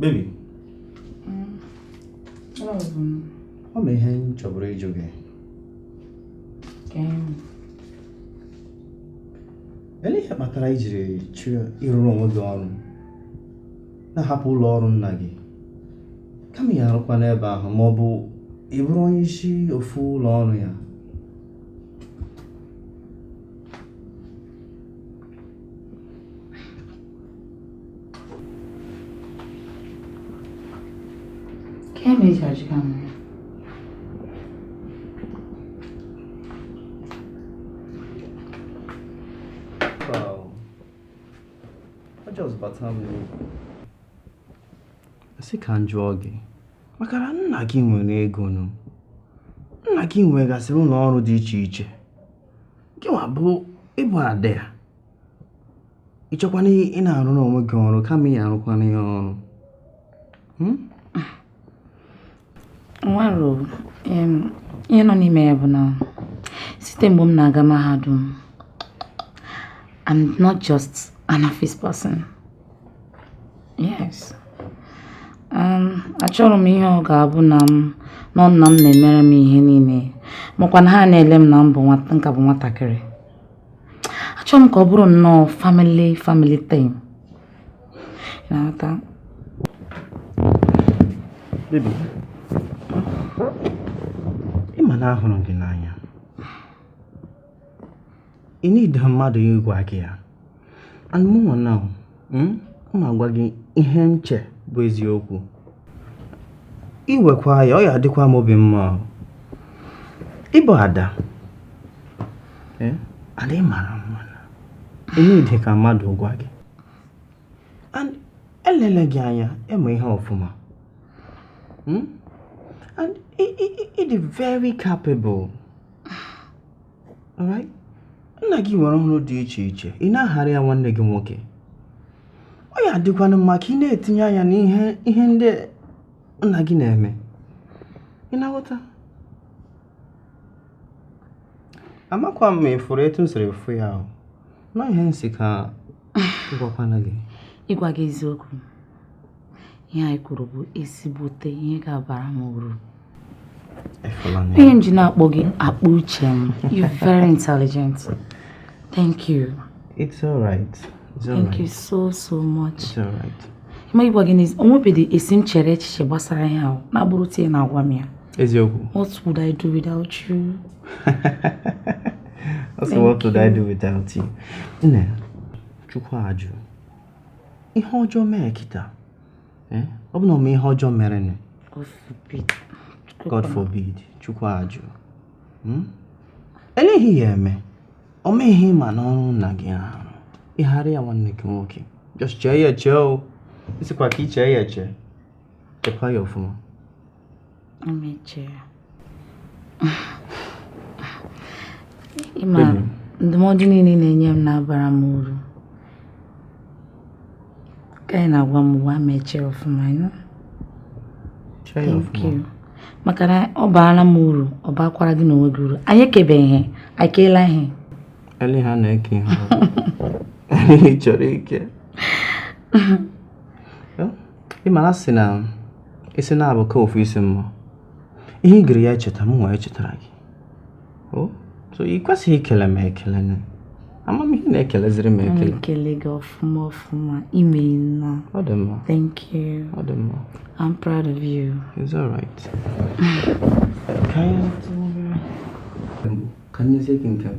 Baby. Mm. Ọ bụ ihe m chọburu ịjụ gị. Olee ihe kpatara i jiri chọọ ịrụrụ onwe gị ọrụ na-ahapụ ụlọ ọrụ nna gị kama ị ya arụkwa n'ebe ahụ ma ọ bụ ị bụrụ onye isi ofu ụlọ ọrụ ya? Kemi Judge Cameron. Wow. I just bata m. Asị ka m jụọ gị, maka na nna gị nwere ego nụ nna gị nwegasịrị ụlọ ọrụ dị iche iche gị nwa bụ ị bụ ada ya ị chọkwana ị na-arụrụ onwe gị ọrụ kama ị ya arụkwana ya ọrụ hmm? o nwerọ ihe nọ n'ime ya bụ na site mgbe m na-aga mahadum I'm not just an office person Yes. Um, achọrọ m ihe ọ ga-abụ na m nọ nna m na-emere m ihe niile makwa na ha na-ele m na m bụ m ka bụ nwatakịrị achọrọ m ka ọ bụrụ nnọọ family family thing ị na-aghọta Baby, ị ma na ahụrụ gị n'anya ị need mmadụ ịgwa gị ya and mụnwa na hmm, m agwa gị ihe m che bụ eziokwu i wekwa ya ọ ya adịkwa m obi mma ị bụ ada eh, and ị mara mma ị need ka mmadụ gwa gị and elele gị anya ị ma ihe ọfụma hmm? and ị dị very capable nna gị nwere ọrụ dị iche iche ị na-aghara ya nwanne gị nwoke ọ ya adịkwanụ mma ka ị na-etinye anya n'ihe ndị nna gị na-eme ị na-aghọta amakwa m ma ị fụrụ etu m siri fụ ya ahụ na ihe m sị ka m gwakwana gị ịgwa gị eziokwu ihe anyị kwuru bụ ezigbote ihe ga-abara m uru ihe m ji na-akpọ gị akpa uche m you very intelligent thank you it's all right it's all thank you so so much it's all right ma ịgwa gị n'ezi o nwebeghị esi m chere echiche gbasara ihe ahụ na-abụrọ etu ị na-agwa m ya eziokwu what would I do without you also what would I do without you nne chukwu ajụ ihe ọjọọ mee kịta eh? ọ bụ na ọma ihe ọjọọ mere nụ God forbid chukwu ajụ hmm? eleghị ya eme o meghị mana ọrụ nna gị ahụ ịghara ya nwanne gị nwoke just chee ya eche o sikwa ka i chee ya eche chekwa ya ọfụma ị ma ndụmọdụ niile ị na-enye m na-abara m uru ka ị na-agwa m uwe mechie ọfụma maka na ọ baara m uru ọ baakwara gị na onwe gị uru anyị ekebeghị ihe anyị keela ihe ele ha na-eke ihe anyị chọrọ ike ị mara sị na isi naabọ ka ofu isi mma ihe ị gịrị ya echeta mụwa echetara gị o so ị kwesịghị ikele m ekele na amamihe na-ekeleziri m ekele ekele gị ọfụma ọfụma imeela ọ dị mma thank you ọ dị mma I'm proud of you it's all right ka anyị ka nyezie gị nke m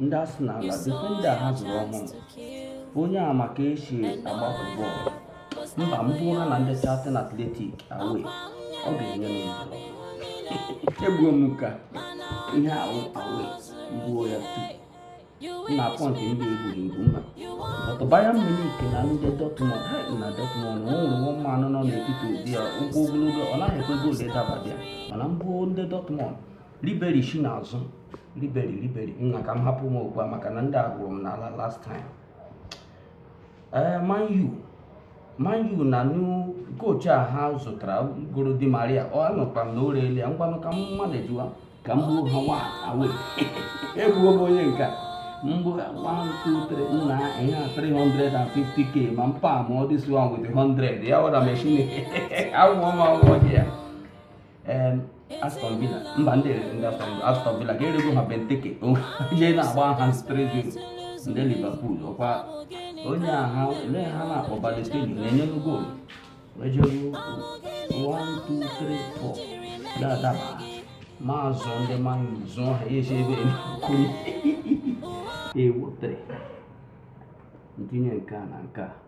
ndị Arsenal na difenda ha zụrụ ọhụrụ onye a maka esi agbapụ bọọlụ mba m gbuo ha na ndị Charlton Athletic away ọ ga-enye m ndụ egbuo m ka ihe ahụ away gbuo ya tupu na pọntị ndị egburu egbu mma ọtụ Bayern Munich na ndị Dortmund ha na Dortmund o nwere nwa manụ nọ n'etiti ụdị ya ụkwụ ogologo ọ naghị ekwe goolu ịdabadị ya mana mbụ ndị Dortmund riberi shi n'azụ riberi riberi nna ka m hapụ m okwu a maka na ndị a kụrụ m n'ala last time ee eh, Man U Man U na new kochi a ha zụtara goro Di Maria anụkwa m na o reele ya ngwanụ ka m manajiwa ka m gbuo ha nwa away egbuo m onye nke a mgbe 123 nna ihe a 350k ma m permụọ this one with 100 ya wara mechin awụọ m awụọ gị ya Aston Villa mba ndị erere ndị Aston Villa ka erego ha Benteke onye na-agba ha striking ndị Liverpool ọkwa onye aha ele ha na-akpọ Balotelli na-enye goolu ejere 1 2 3 4 ya adaba ma zụọ ndị Man U zụọ ha ya esi ebe ekwuri ewu 3 m tinye nke a na nke a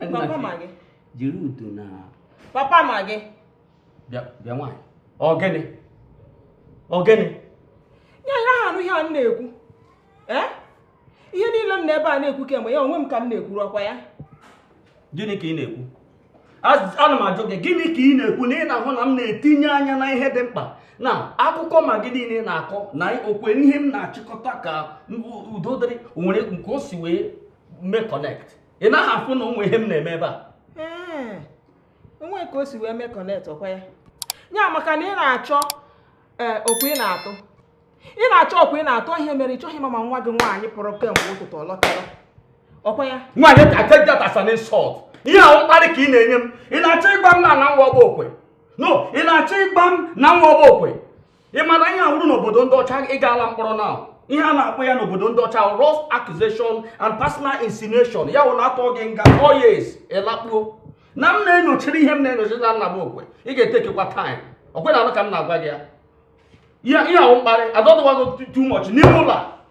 papa Magị jiri udo na papa Magị bịa nwaanyị ọ gịnị ọ gịnị ị naghị anụ ihe a m na-ekwu eh? ihe niile m nọ ebe a na-ekwu kemgbe ya onwe m ka m na-ekwuru ọkwa ya gịnị ka ị na-ekwu ana m ajụ gị gịnị ka ị na-ekwu na ị na-ahụ na m na-etinye anya na ihe dị mkpa na akụkọ Magị niile ị na-akọ na okwe ihe m na-achịkọta ka udo dịrị o nwere nke o si wee mee connect ị naghị afụ na o nwe ihe m na-eme ebe a ee o nwe ka o si wee mee connect ọkwa ya ya maka na ị na-achọ ee okwe ị na-atụ ị na-achọ okwe ị na-atụ ihe mere ị chọghị ịma ma nwa gị nwaanyị pụrụ kemgbe ụtụtụ ọ lọtara ọkwa ya nwaanyị I take that as an insult ihe a wụ mkparị ka ị na-enye m ị na-achọ ịgwa m na na m wụ ọgba okwe no ị na-achọ ịgwa m na m wụ ọgba okwe ị mara ihe a wụrụ n'obodo ndị ọcha ị gaala mkpọrọ na ihe a na-akpọ ya n'obodo ndị ọcha gross accusation and personal insinuation ya wụ na atụọ gị nga four years ị lakpuo na m na-enyochiri ihe m na-enyochiri na nna m okwe ị ga-etekekwa time ọkwa ị na-anụ ka m na-agwa gị ya ihe a wụ mkparị ọ dịwago too much n'ime ụlọ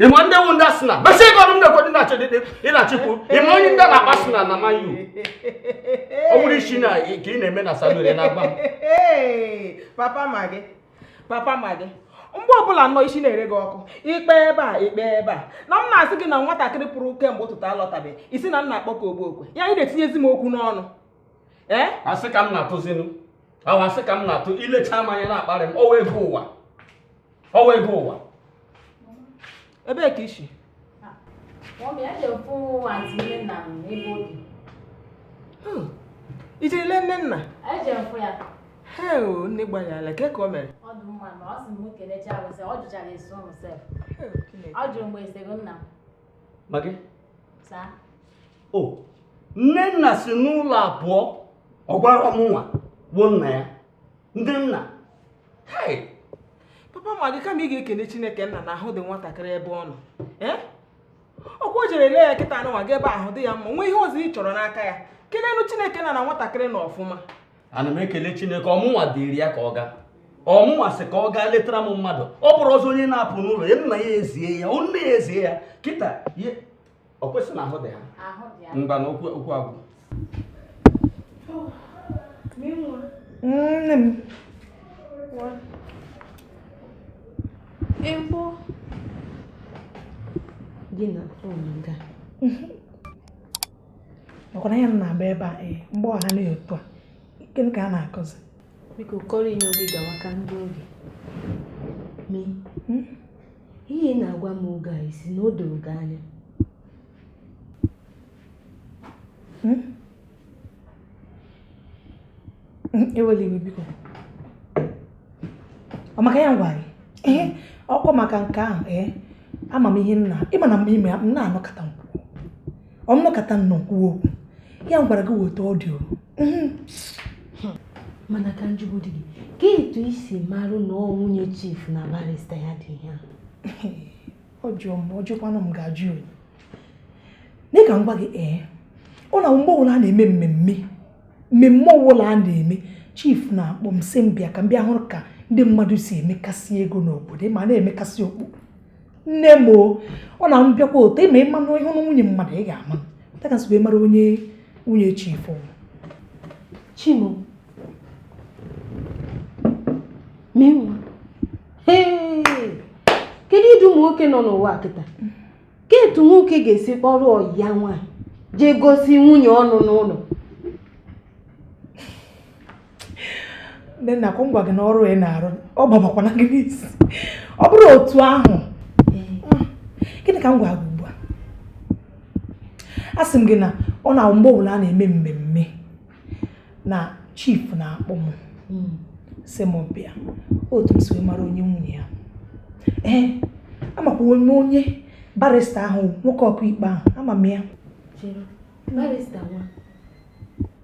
ị ma ndị wụ ndị Arsenal besi ego ọnụ m na-ekwe dị na-achọ dị ị na-achịkwu ị ma onye ndị na-akpọ Arsenal na Man U ọ bụrụ isi na ka ị na-eme na salon na-agba m papa Magị papa Magị mgbe ọbụla nnọọ isi na-ere gị ọkụ ikpe ebe a ikpe ebe a na m na-asị gị na nwatakịrị pụrụ kemgbe ụtụtụ alọtabeghị ị sị na m na-akpọ gị ọgba okwe ya ị na-etinyezi m okwu n'ọnụ ee asị ka m na-atụzinu ahụ asị ka m na-atụ i lecha m anya na-akparị m ọwa ego ụwa ọwa ego ụwa ebee ka i si i jere lee Nnenna he o nne gbaghara kee ka o mere Magị? o Nnenna si n'ụlọ pụọ ọ gwara mụnwa wụ nna ya ndị nna papa Magị kama ị ga-ekene chineke nna na ahụ dị nwatakịrị ebe ọ nọ ọkwa o jere lee ya kịta anụnwa gị ebe ahụ dị ya mma o nwee ihe ọzọ ị chọrọ n'aka ya kelenụ chineke nna na nwatakịrị nọ ọfụma ana m ekele chineke ọ mụnwa ziri ya ka ọ gaa ọ mụnwa sị ka ọ gaa letara m mmadụ ọ bụrụ ọzọ onye na-apụ n'ụlọ ya nna ya ezie ya nne ya ezie ya kịta ọ kwesịrị na ahụ dị ha ahụ dị ya ngwa na okwu okwu agwụ nne m egbo gị na ọmụga ọ kwa na ya m na-agba ebe a ee mgbe ọ ha na otu a gịnị ka a na-akọzi biko kọrọ inye oge gawa ka ndị oge mi ihe ị na-agwa m oge a ị sị na o doro gị anya hmm? Hmm, ewela iwe biko ọ maka ya m gwa gị ee ọ kwa maka nke ahụ ee ama m ihe nna ị ma na mgbe ime m na-anọkọta m ọ mụ nọkata nnọọ kwuo okwu ya gwara gị weta ọdịo mhm. mana ka m jụgodi gị kee etu i si marụ na ọ nwunye chief na barista ya dị ihe a ọ jụọ m ọ jụkwanụ m ga-ajụ ya dị ka m gwa gị ee ọ na mgbe ọbụla a na-eme mmemme mmemme ọbụla a na-eme chief na-akpọ m sị m bịa ka m bịa hụrụ ka ndị mmadụ si emekasị ego n'obodo ma na-emekasị okpu nne m o ọ na m bịakwa otu ị ma ị ma na ịhụ na nwunye mmadụ ị ga-amata ka nsogbu ịmara onye nwunye chief chi m o menwa kedu ụdị ụmụ nwoke nọ n'ụwa kịta kee etu nwoke ga-esi kpọrọ ọyị ya nwaanyị jee gosi nwunye ọ nụ n'ụlọ ndị nna ka m gwa gị na ọrụ ị na-arụ ọ gbabakwana gị n'isi ọ bụrụ otu ahụ gịnị ka m gwa gị ugbu a asị m gị na ọ na mgbe ọbụla a na-eme mmemme na chief na-akpọ m hmm. sị m bịa otu m si wee mara onye nwunye ya ee amakwa m onye barista ahụ nwoke okwu ikpe ahụ ama m ya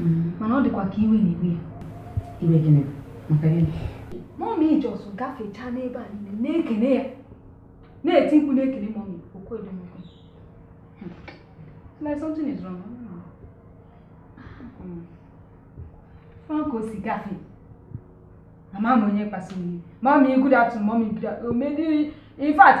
Mm, mana ọ dịkwa ka iwe na-ewe ya. Iwe gịnị? Maka gịnị? Mommy just gafechaa n'ebe a niile na-ekene ya na-eti mkpu na-ekene mommy o kwudị m okwu. Hmm. Like something is wrong. Hmm. Ọ ka o si gafee. Ama m onye kpasuru iwe. Mommy good afternoon, mommy good afternoon. In fact,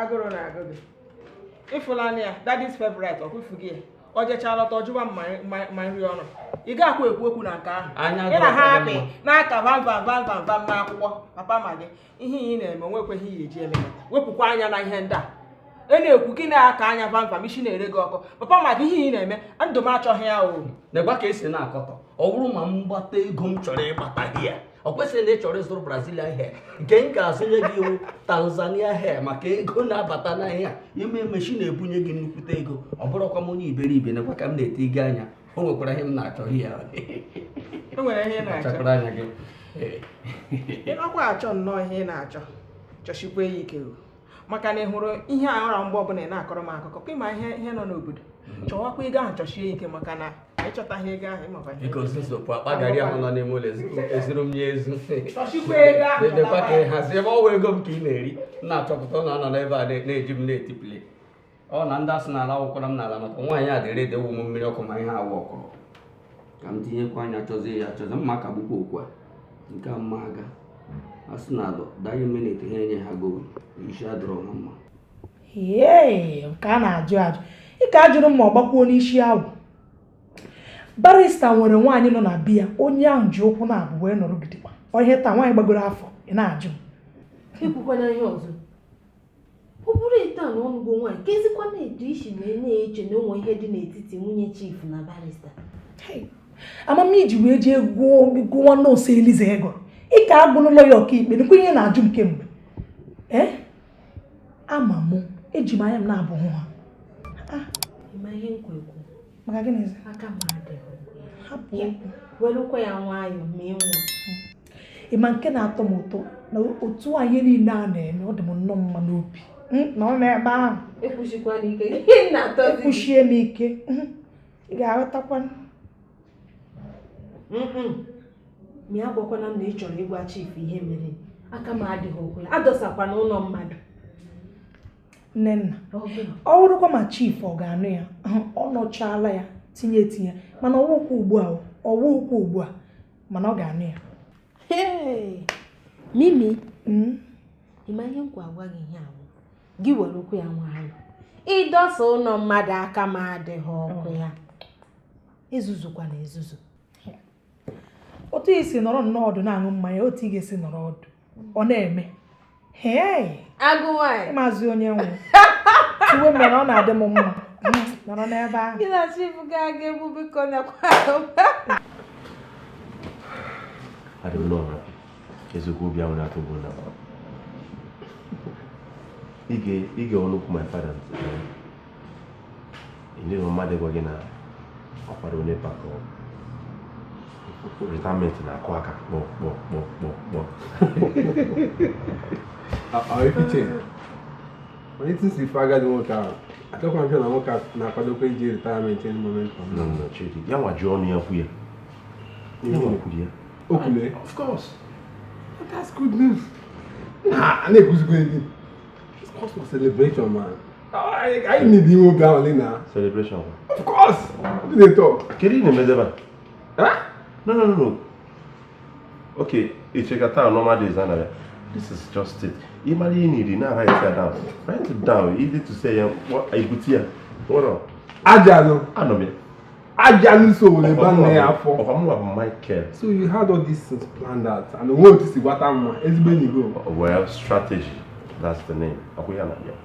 agụrụ na-agụ gị ịfụlanya ya daddy's favorite ọkwụfu gị ya ọ jechaa lọta ọ jụwa m nri ọnụ ị ga-akwa ekwu okwu na nke ahụ ị na ha apị n'aka vam vam vam vam vam n'akwụkwọ papa ma gị ihe ị na-eme o nwekwaghị ihe e ji eme wepụkwa anya na ihe ndị a ị na-ekwu gị na-aka anya vam vam isi na-ere gị ọkụ papa ma gị ihe ị na-eme ndụ m achọghị ya o na-egwa ka esi na-akọtọ ọ bụrụ ma m gbata ego m chọrọ ịgbata gị ya ọ kwesịrị na ị chọrọ ịzụrụ brazilian hair nke m ga-azụnye gị wụ tanzania hair maka ego na-abata n'ahịa ime meshi na-ebunye gị nnukwute ego ọ bụrụkwa m onye iberibe nakwa ka m na-ele gị anya o nwekwara ihe m na-achọ ya o nwere ihe ị na-achọ anya gị ị nọkwa achọ nnọọ ihe ị na-achọ chọshikwa ya ike maka na ị hụrụ ihe a ọra mgbe ọbụla ị na-akọrọ m akụkọ ka ị ma ihe nọ n'obodo mm-hmm. chọwakwa ego ahụ chọshie ike maka na ị chọtaghị ego ahụ ị makwa ihe akpa garị ahụ nọ n'ime ụlọ ezuru m ya ezu dedekwa ka ị hazie ebe ọ wụ ego m ka ị na-eri na-achọpụta na ọ nọ n'ebe a na-eji m na-etipụli ọ na ndị asị n'ala awụkwara m n'ala maka nwaanyị a dị ready ịwụ m mmiri ọkụ ma ihe awụ ọkụrụ ka m tinyekwa anya chọzie ya chọzie mma ka gbukwa okwu a nke a mma a ga-asị na alụ daghị minit ha enye ha goolu isi adịrọ ha mma ee nke a na-ajụ ajụ ị ka ajụrụ m ma ọ gbakwuo n'isi ọ wụ barista nwere nwaanyị nọ na biya onye ahụ ji ụkwụ naabọ wee nọrọ gidigba ihe taa nwaanyị gbagoro afọ ị na-ajụ m ekwukwana ihe ọzọ ọ bụrụ etu a na ọnụgo nwaanyị ka ezikwa na-etu isi wee na-eche na o nwe ihe dị n'etiti nwunye chief na barista ama m ihe i ji wee jee gụọ nọọsụ eliza ego ị ka agụnụ lọya ọkaikpe nụkwa ihe ị na-ajụ m kemgbe ee eh? ama mụ eji m anya m naabọ hụ ha ah. maka gịnị hapụ welụkwa ya nwayọọ ma ịnwa ị ma nke na-atọ m ụtọ na otu a ihe niile a na-eme ọ dị m nnọọ mma n'obi hmm, nọ n'ebe ahụ ekwusie m ike hmm, ị ga-aghọtakwa ma ya gwakwana m na ị chọrọ ịgwa chief ihe mere aka m adịghị okwu ya adọsakwana ụlọ mmadụ nnenna ọ bụrụkwa ma chief ọ ga-anụ ya ọ nụchaala ya tinye etinye mana ọ wụghịkwa ugbu a ọ wụghịkwa ugbu a mana ọ ga-anụ ya mimi hmm? ị ma ihe m ka-agwa gị ihe a wụ gị were okwu ya nwayọ ịdọsa ụlọ mmadụ aka m adịghị okwu ya ezuzukwana ezuzu otu i si nọrọ nnọọ ọdụ na-aṅụ mmanya otu ị ga-esi nọrọ ọdụ ọ na-eme agụ nwanyị ị mazi onye nwere ihe o mere ọ na-adị m mma nọrọ n'ebe ahụ gị na chief ga-aga egbu biko nakwa adị m n'ọra eziokwu obi ahụ na-atụ bụ na ige ọnụ okwu my father enyeghị mmadụ gwa gị na ọkwara onye pakọ retirement na-akụ aka kpọ kpọ kpọ kpọ kpọ office onye isi si ife agadi nwoke ahụ achọkwa m na nwoke na-akwadokwa ije retirement any moment ya nwa ji ọnụ ya kwu ya ya nwa kwuru ya okwule of course that's good news ah, a na-ekwuzikwa ndị It's cause for celebration, man. anyị need inwe obi ahụ na celebration of course obi dị ụtọ kedu ị na-emedebe no no no okay icheka taa normal days na ya this is just it ị mara ihe niri na write it down write it down easy to say ya ibute ya nwere ajanụ anọ m ya ajanụ so were ba nne ya afọ ọkwa mụnwa bụ michael so you had all this things planned out and onwe otu si gwata mma ezigbo enyi gị well strategy that's the name akwụ ya na ya